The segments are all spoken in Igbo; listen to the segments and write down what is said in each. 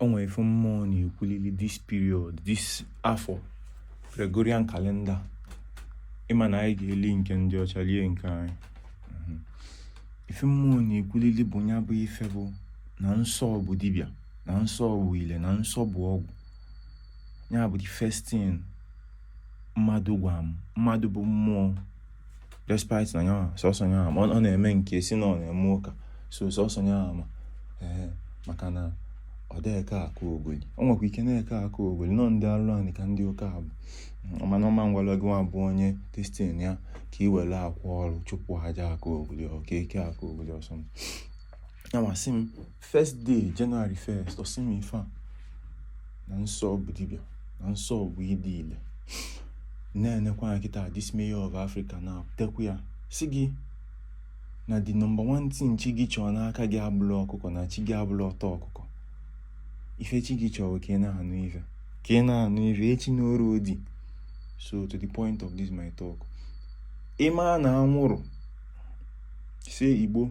o nwe ife mmụọ na-ekwulili this period this afọ Gregorian calendar ị ma na anyị ga-eli nke ndị ọcha lie nke anyị mhm. ife mmụọ na-ekwulili bụ ya bụ ife bụ na nsọ bụ dibịa na nsọ bụ ile na nsọ bụ ọgwụ ya bụ the first thing mmadụ gwa m mmadụ bụ mmụọ despite na nya nwa sọsọ nya nwa ma ọ na-eme nke si na ọ na-eme ụka so sọsọ nya nwa ma ee maka na ọ dịghị eke aka ogoli ọ nwekwa ike na-eke aka ogoli nọ ndị alụ anyị ka ndị ụka abụ mana ọma ngwanụ gị nwa bụ onye distin ya ka ị were akwa ọrụ chụpụ aja aka ogoli ọ ka-eke aka ogoli ọsọ ya masị m first day January 1st ọ sị m ife a na nsọ bụ dibịa na nsọ bụ ịdị ile na-enekwa ya kịta this mayor of Africa na-ekwu ya sị gị na the number one thing chi gị chọọ n'aka gị abụrọ ọkụkọ na chi gị abụrọ ọta ọkụkọ ife chi gị chọọ ka ị na-anụ ife ka ị na-anụ ife echi n'oru odi so to the point of this my talk ị ma na anwụrụ si igbo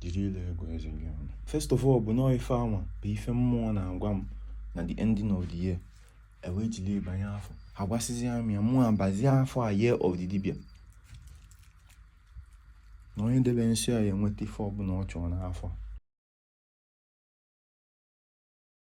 jiri ile ego eze gị ọnụ first of all bụ na ọ ife anwa bụ ife mmụọ na-agwa m na the ending of the year e wee jiri banye afọ a gwasịzịa m ya mụ nwa abazie afọ a year of the dibịa na onye debe nsọ a ya enweta ife ọbụla ọ chọrọ n'afọ a